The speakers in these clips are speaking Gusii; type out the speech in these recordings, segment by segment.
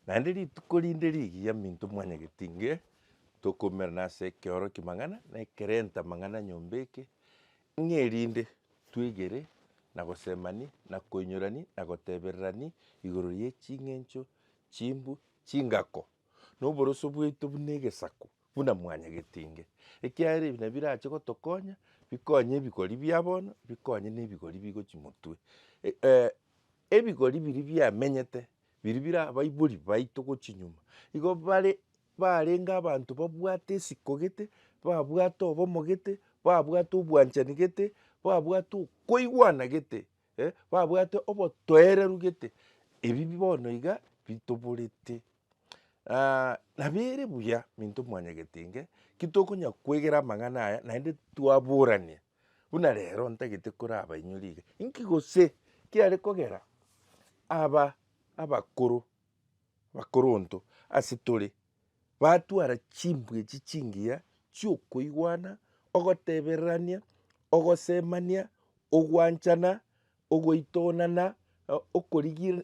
Naende rituko rinde rigiya minto mwanyageti nge tokoumera nase ekeoroki mang'ana na ekerenta mang'ana nyomba eke, ng'e rinde twegere na gosemani na koinyorani na gotebererani igoro ye ching'encho chimbu chingako na oboroso bwaito buna egesaku buna mwanyagetinge, ekiagera ebi nabirache gotokonya, bikonye ebigori bia bono, bikonye na ebigori bigochia motwe. ebigori biri biamenyete, biri bira abaibori baito gochia nyuma, igo bare barenge abanto babwate esiko gete, babwate obomo gete, babwate obwanchani gete, babwate okoigwana gete, babwate obotoereru gete, ebi bono iga bitoborete. Nabere buya minto mwanyagetenge, ki tokonya kwegera amang'ana aya naende twaboranie, buna rero ntagete korabainyore iga, inki gose kiare kogera aba abakoro bakoronto ase tore. Batwara chimbwa echi chingiya chi'okoigwana, ogotebererania, ogosemania, ogwanchana, ogoitonana,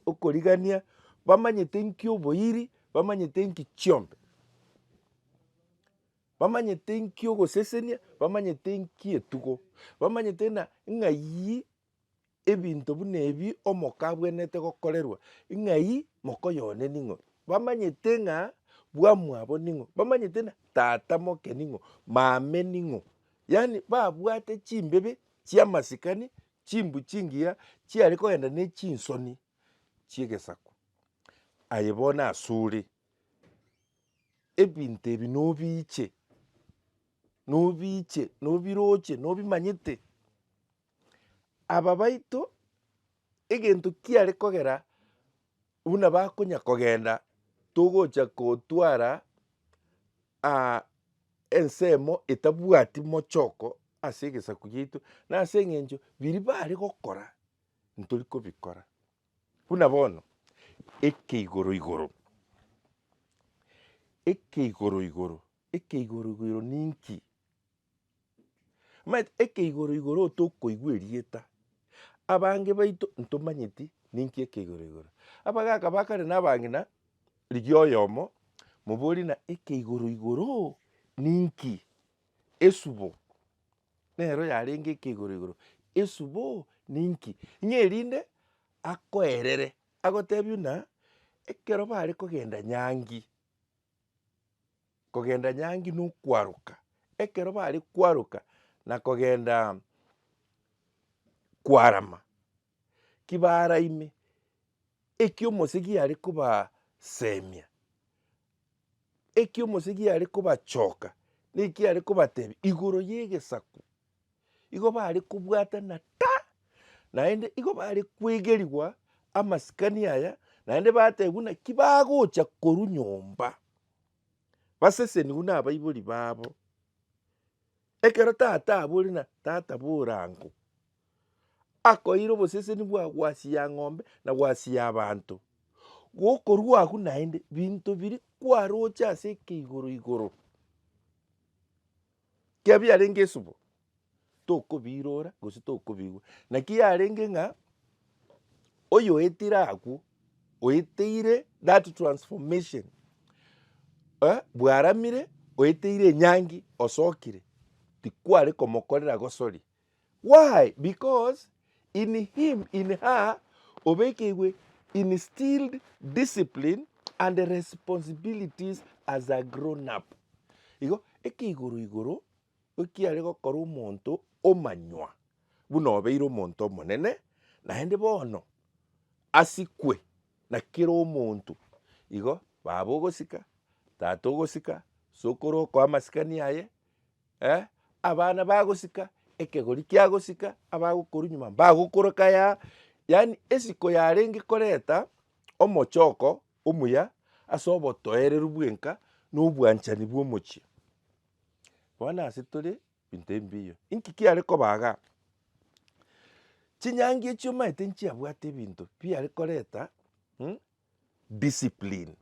okorigania, bamanyete inki oboiri, bamanyete inki chiombe, bamanyete inki ogosesenia, bamanyete inki etugo, bamanyete ng'a ng'ai. ebinto buna ebi omoka abwenerete gokorerwa, ng'ai mokoyoonia ning'o? Bamanyete ng'a bwamwabo ning'o, bamanyete ng'a tata moke ning'o, maame ning'o, yaani babwate chimbibe chi'amasikani, chimbu chingiya chiare kogenda ne chinsoni chi'egesaku. Aye bono asore, ebinto ebi nobiche, nobiche, nobiroche, nobimanyete. Aba baito egento kiare kogera buna bakonya kogenda togocha kotwara ensemo etabwati mochoko ase egesaku giaito na ase eng'encho biria bare gokora ntori kobikora. Buna bono eke igoro igoro, eke igoro igoro, eke igoro igoro ninki? Omanyete ekeigoro igoro tokoigwa erieta, abange baito ntomanyeti ninki ekeigoro igoro. Abagaka bakare na abang'ina rigia oyomo moborie ng'a ekeigoro igoro ninki? Esubo nero yarenge ekeigoro igoro, esubo ninki? Ng'a erinde akoerere agotebi ng'a ekero bare kogenda nyangi. kogenda nyangi nokwaroka, ekero bare kwaroka na kogenda kwarama, ki baraime, eki omosegi are kobasemia, eki omosegi are kobachoka, naki are kobatebia igoro ye egesaku. igo bare kobwatana ta, naende igo bare kwegerigwa amasikani aya, naende bateba buna ki bagocha korwa nyomba basesenigwe nabaibori babo. Ekero tata abore na tata bora ango, akoeire oboseseni bwa gwasia ng'ombe na gwasia abanto, gokorwa agwo naende binto biria kwaroche ase eke igoro igoro. Ekiagera biarenge esubo, tokobiirora gose tokobigwa. Naki yarenge ng'a oyoetire akwo, oeteire that transformation, eh, bwaramire oeteire enyangi osokire, tikware komokorera gosori, Why? Because in him, in her, obekeirwe instilled discipline and responsibilities as a grown up. Igo eke igoro igoro ekiare gokora omonto omanywa buna obeire omonto omonene, naende bono asikwe na kera omonto. Igo baba ogosika, tata ogosika, sokoro okoa amasikani aye, abana bagosika, ekegori kiagosika, abagokorwa nyuma mbagokoreka aya, yaani esiko yarenge koreta omochoko omuya ase obotoereru bwenka na obwanchani bwa omochie. Bono ase tore ebinto ebi mbiya. Inki kiare koba igaa? Chinyaangi echio omanyete nchiabwate ebinto biare koreta discipline.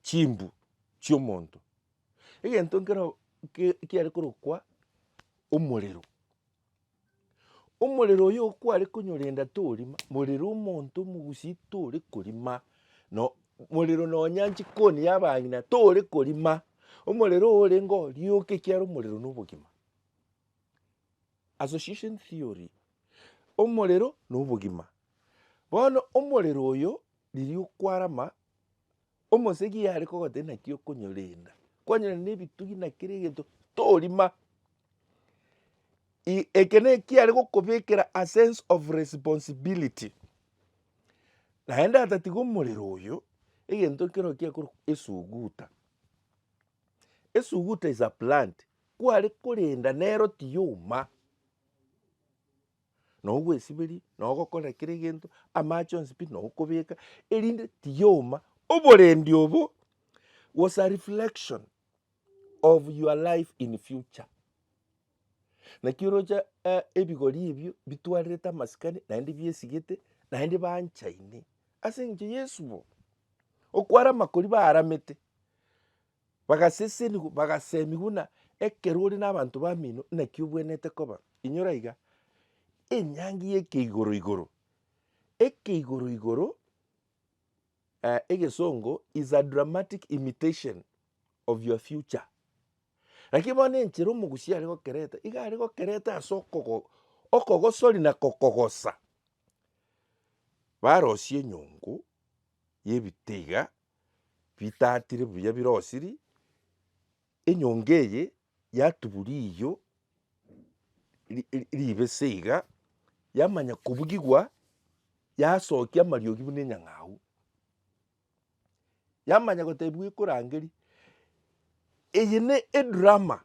chimbu chi'omonto, egento nkero kiare korokwa omorero. Omorero oyo okware konyorenda torima, morero omonto omogusii tore korima, no morero nonya jikoni ya abang'ina tore korima, omorero oyo orengeo rioka ekiagera omorero na obogima. Association theory, omorero na obogima. Bono omorero oyo riria okwarama Omosegi yare kogotebia naki okonyorenda, kwanyorenda na ebitugi na kera egento torima. I- eke na ekiya are gokobekera a sense of responsibility. Naende atatiga omorero oyo, egento nkero kiakorwa esuguta. Esuguta is a plant, kware korenda nero tiyoma. na ogwesiberia na ogokora kera egento, amache onsi pi na okobeka erinde tiyoma oborendi obo was a reflection of your life in future. Naki oroche eh, ebigori ebio bitwarerete amasikani naende biesigete naende banchaine ase eng'encho Yesu bo okwara amakori baaramete Bagasesenigwa, bagaseemia buna ekero ore nabanto bamino naki obwenerete koba. Inyora iga, enyangi y'ekeigoro igoro, ekeigoro igoro, egesongo is a dramatic imitation of your future. Lakini bono enchera omogusia are gokereta, iga are gokereta ase okogo okogosori na kokogosa. Barosie enyongo y'ebitee iga. bitatire buya birosiri, enyonga eye yatubu riiyo ri- ri- ribese iga, yamanya kobugigwa, yasokia amariogi buna enyang'au, yamanya gotebiwa ekorangeria, eye ne edrama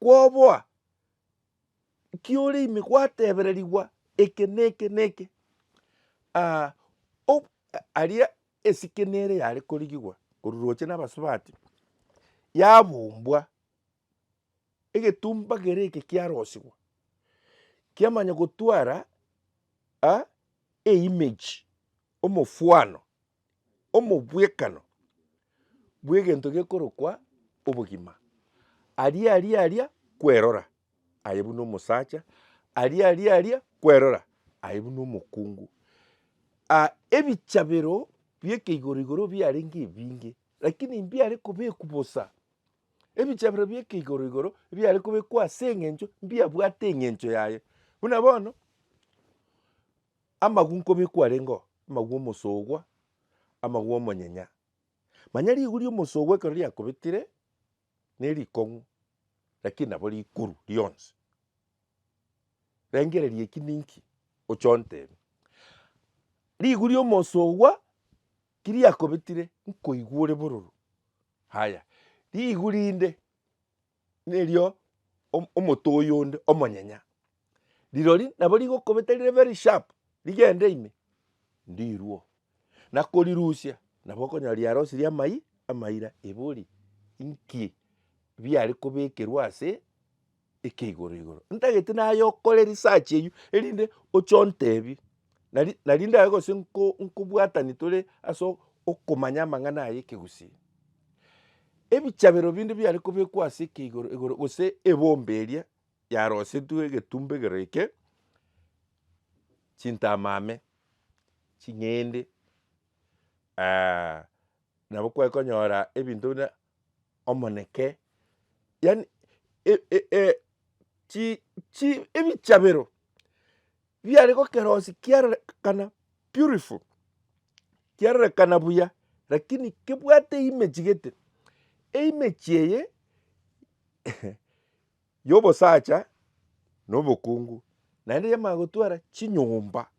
kwoboa ekiore ime gwatebererigwa eke na eke na eke aria esike nere yare korigigwa korwa roche na abasubati yabumbwa egetumba kere eke kiarosigwa kiamanya gotwara e image omofwano. omobwekano bw'egento gekorokwa obogima, aria aria aria kwerora, aye buna omosacha, aria aria aria kwerora, aye buna omokungu. Ah ebichabero bi'eke igoro igoro biarenge ebinge, rakini mbiare kobekwa bosa, ebichabero bi'eke igoro igoro mbiare kobekwa ase eng'encho mbiabwate eng'encho yaye. Buna bono. Amagwe nkobe kwarengeo, amagwe omosogwa, amagwe omonyenya. Manya rigwe ri'omosogwa ekero riakobetire nerikong'u, lakini nabo rikuru rionsi. Rengereria eki ninki, oche ontebie. Rigwe ri'omosogwa ki riakobetire nkoigwa ore bororo, haya rigwe rinde. Erio omote oyonde omonyenya rirori nabo rigokobeta rire very sharp rigende ime ndirwe na korirusia nabo okonyora riarosirie amai amaira ebe ori inki biare kobekerwa ase eke igoro igoro. Ntagete naye okore research eywo erinde oche ontebie. Nari, nari ndare gose nko, nkobwatani tore ase o- okomanya amang'ana aya ekegusii. Ebichabero binde biare kobekwa ase ekeigoro igoro gose ebomba eria yarosetwe egetumbegero eke, chintamame, ching'ende nabo kware konyora ebinto buna omoneke, yaani e- e- e- chi- chi ebichabero biare gokerosia kiarorekana beautiful, kiarorekana buya lakini kebwate eimechi gete, eimechi eye ya obosacha na obokungu, naende yamanya gotwara chinyomba.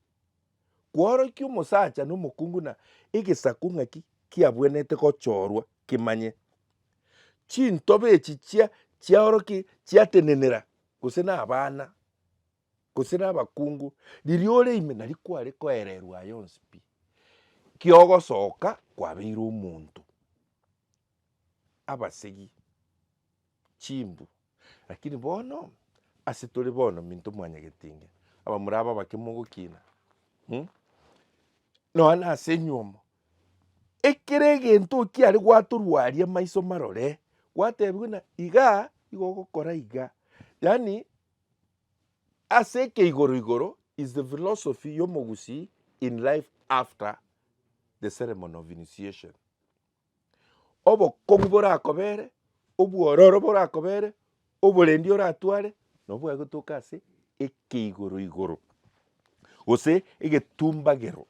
Kworokia omosacha na omokungu na egesaku ng'aki kiabwenerete gochorwa kimanye. Chintoba echi chia chiaoroki chiatenenera gose na abana gose na abakungu riria ore ime nari kware koererwa aye onsi pi. Kiogosoka kwabeire omonto. Abasegi, chimbu. Lakini bono ase tore bono minto mwanyagetinge, abamura aba abake mogokina, um, nonya na ase enywomo, ekere egento okiare gwatorwaria amaiso marore, gwatebiwa ng'a iga igo ogokora iga, yaani ase eke igoro igoro is the philosophy ya omogusii in life after the ceremony of initiation. obokong'u borakobere, obwororo borakobere, oborendi oratware, nabo bwagotoka ase ekeigoro igoro, gose egetumbagero.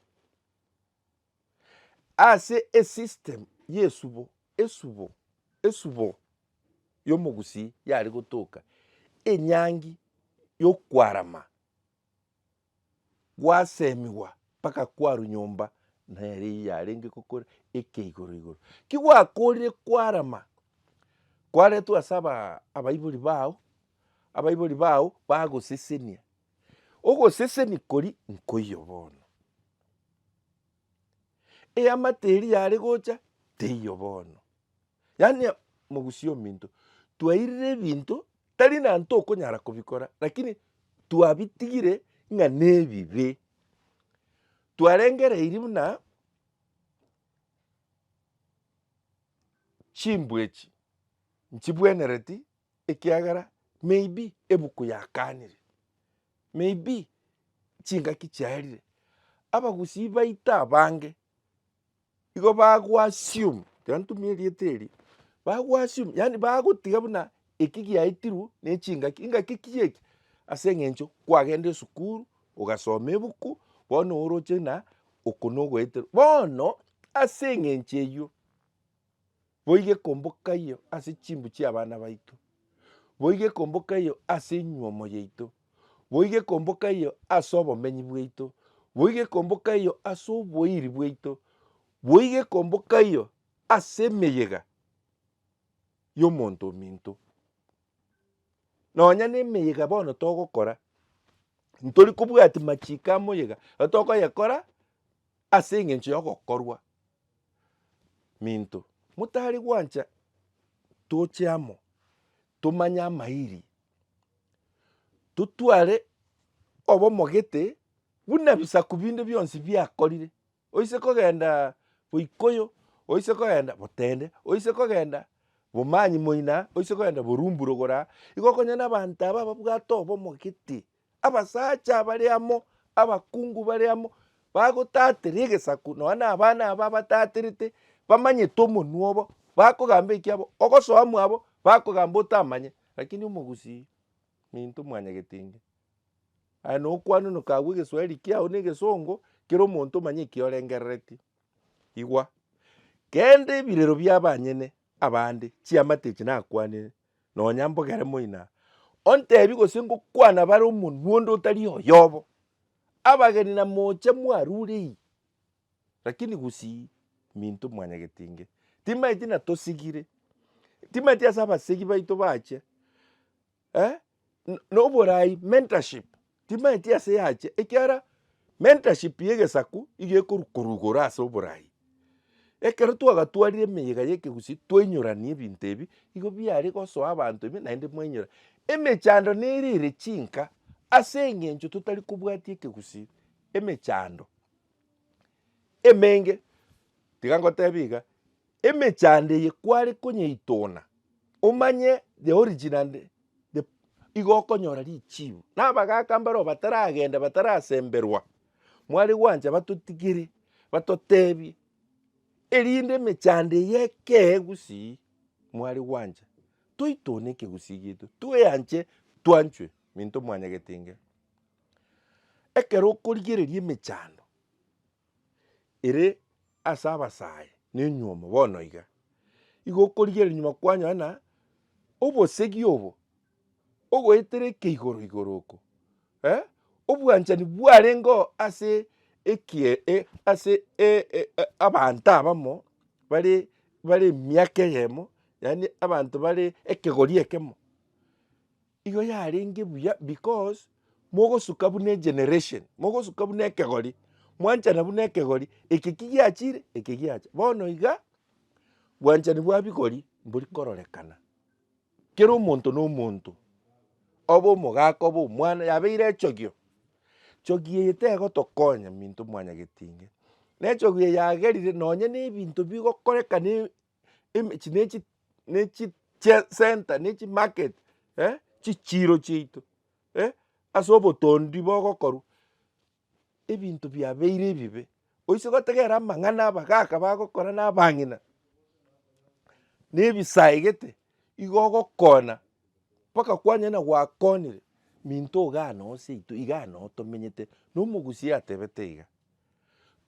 Ase esystem ya esubo, esubo, esubo ya omogusii yare gotoka, enyangi ya okwarama. gwasemigwa mpaka kwarwa nyomba nere eye yarenge gokora eke igoro igoro. Ki gwakorire kwarama, kwaretwa ase aba abaibori bao, abaibori bao bagosesenia, ogoseseni kori nkoiyo bono. Eamate eria yare gocha teiyo bono. Yaani mogusia ominto twairire ebinto tari na ntokonyara kobikora lakini twabitigire ng'a nebibe. Twarengereiri buna chimbwa echi nchibwenereti ekiagera maybe ebuku yakanire, maybe chingaki chiarire, abagusii baito abange igo bago assume, rero ntumie erieta erio, bago assume yaani bagotiga buna eki giaitirwe na echingaki, engaki ki eki? ase eng'encho kwagenda esukuru ogasoma ebuku bono oroche buna oko nogoeterwa, bono ase eng'encho eywo. Boigo ekombokaiyo ase chimbu chi'abana baito, boigo ekombokaiyo ase enyuomo yaito, boigo ekombokaiyo ase obomenyi bwaito, boigo ekombokaiyo ase oboiri bwaito, boigo ekombokaiyo ase emeyega y'omonto ominto. Nonya nemeyega bono togokora, ntori kobwatia machiiko amoyega, atokoyekora ase eng'encho y'ogokorwa. minto, motari gwancha toche amo tomanye amairi, totware obomogete buna ebisaku binde bionsi biakorire, oise kogenda boikoyo, oise kogenda botende, oise kogenda bomanyi moina, oise kogenda borumburo gora, igo okonyene abanto aba babwate obomogete Abasacha bare amo, abakungu bare amo, bagotatera egesaku, nonya na abana aba abataterete, bamanyete omonwa obo, bakogamba ekiabo, ogosoa mwabo, bakogamba otamanye, rakini omogusii minto mwanyagete inge. Aye na okwana noka agwo egeswahiri kiao na egesongo, kera omonto omanye eki orengerereti. Igwa, kende ebirero bia abanyene abande, chiamate echi nakwanire, nonya mbogere moina, ontebie gose ngokwana bare omonwa onde otari oyobo. Abageni na mocha mwarure iyie, rakini gusii minto mwanyagete inge, timaeti na tosigire, timaeti ase abasegi baito bache, eh, noborai, mentorship, Timaeti ase yacha, ekiara mentorship y'egesaku igo ekorukwa igoro ase oborai. Ekero twagatwarire emeyega y'ekegusii twainyorania ebinto ebi, igo biare gosoa abanto ime naende mwainyora. Emechando nere ere chinka ase eng'encho totari kobwatia ekegusii, emechando emenge. Tiga ngotebie iga. Emechando eye kware konyeitona omanye the origin and the igo okonyora richibu. Na abagaka mbareo bataragenda batarasemberwa mware gwancha batotigere batotebie erinde emechando eye ekee gusii mware gwancha toitone ekegusii gieito tweanche twanchwe minto mwanyagete inga. Ekero okorigereria emechando ere ase abasae na enyuomo bono iga, igo okorigereria nyuma kwanyora ng'a obosegi obo ogoetereke igoro igoro oko obwanchani bwarenge oo ase ekie ase abanto abamo bare bare emiaka eyemo yaani abanto bare ekegori ekemo. Igo yarenge buya because mogosuka buna egeneration, mogosuka buna ekegori, mwanchana buna ekegori, eke ki giachire, eke giacha. Bono iga, bwanchani bwa bigori mbori kororekana. Kera omonto na omonto, obe omogaka obe omwana yabeire echogio, chogio eye tegotokonya minto mwanyagetinge. Na echogio eye yagerire nonye na ebinto bigokorekana emechi nechi nechi chia center nechi market eh chichiro chiaito eh ase obotondi bogokorwa ebinto biabeire ebibe oise gotegerera amang'ana abagaka bagokora na abang'ina na ebisaegete igo ogokona mpaka kwanyora ng'a gwakonire minto igaa noo seito igaa noo tomenyete na omogusia atebete iga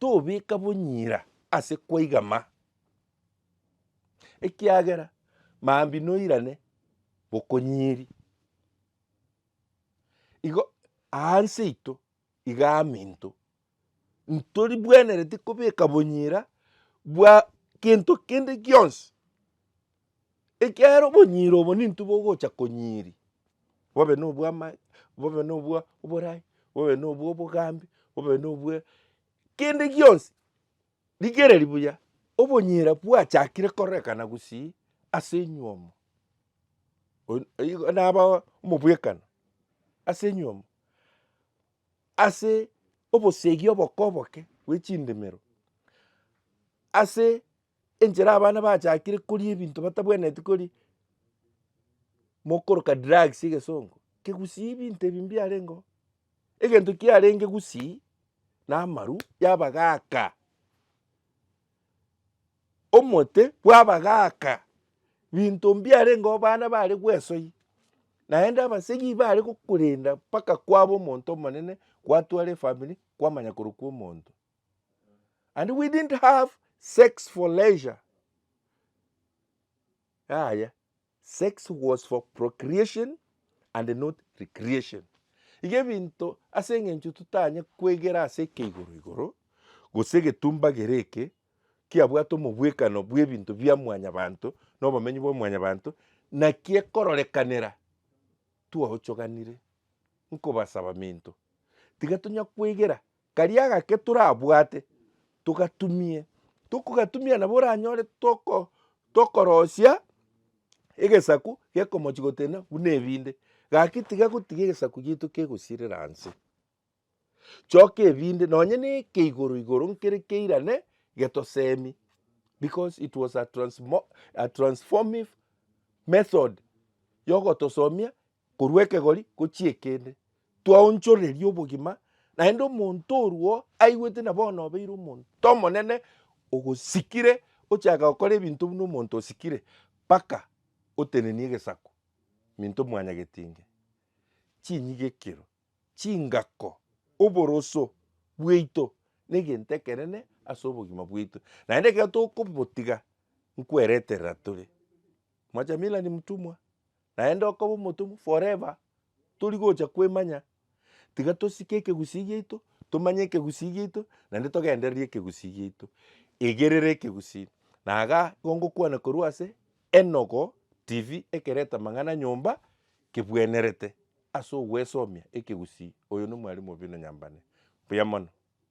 tobeka bonyira ase kwaiga ma. ekiagera mambia noirane bokonyiri. Igo aanse yaito iga aminto ntoribwenereti kobeka bonyira bwa gento kende gionsi ekiagera obonyira obo nintwe bogocha konyiri bobe nobwa amae bobe nobwa oborai bobe nobwa obogambi bobe nobwa kende gionsi. Rigereria buya, obonyira bwachakire korekana gusii ase enywomo. Oin igo naba omobwekano ase enywomo, ase obosegi oboke oboke bwe chindemero, ase enchera abana bachakire koria ebinto batabwenereti koria, mokoroka drugs egesongo, kegusii ebinto ebi mbiarenge oo. Egento kiarenge gusii namaru y'abagaaka, omote bw'abagaaka, binto mbiarenge abana bare gwesoi, naende abasegi bare gokorenda mpaka kwaba omonto omonene gwatwara efamiri kwamanya korokwa omonto. And we didn't have sex for leisure, yaya. Sex was for procreation and not recreation. Iga ebinto ase engencho totanye kwegera ase ekeigoro igoro, gose egetombagere eke kiabwate omobwekano bw'ebinto bia mwanyabanto na obomenyi bwa mwanyabanto, naki ekororekanera twaochoganire. Nkobasaba minto, tiga tonya kwegera Karia gake torabwate, togatumie, tokogatumia nabo oranyore toko tokorosia egesaku gekomochi gotena buna ebinde. Gaki tiga gotiga egesaku giaito kegosirera anse, choka ebinde nonye na eke igoro igoro nkere keirane getosemi because it was a transmo a transformive method ya ogotosomia Korwa ekegori gochia ekende, twaonchoreria obogima, naende omonto orwo aigwete na bono obeire omonto omonene ogosikire ochaka gokora ebinto buna omonto osikire mpaka otenenie egesaku minto mwanyagetinge, chinyigekero, chingako, oboroso bwaito negento ekenene ase obogima bwaito. Naende ekero tokobotiga nkwereterera tore. Mwachamiila ni mtumwa. Naende okoba omotomwa forever tori gocha kwemanya, tiga tosike ekegusii giaito, tomanye ekegusii giaito naende togendererie ekegusii giaito. Igerera ekegusii na igaa igo ngokwana korwa ase Enogo TV ekereta amang'ana nyomba kebwenerete ase ogwesomia ekegusii. Oyo nomwarimu Obino Nyambane. Mbuya mono.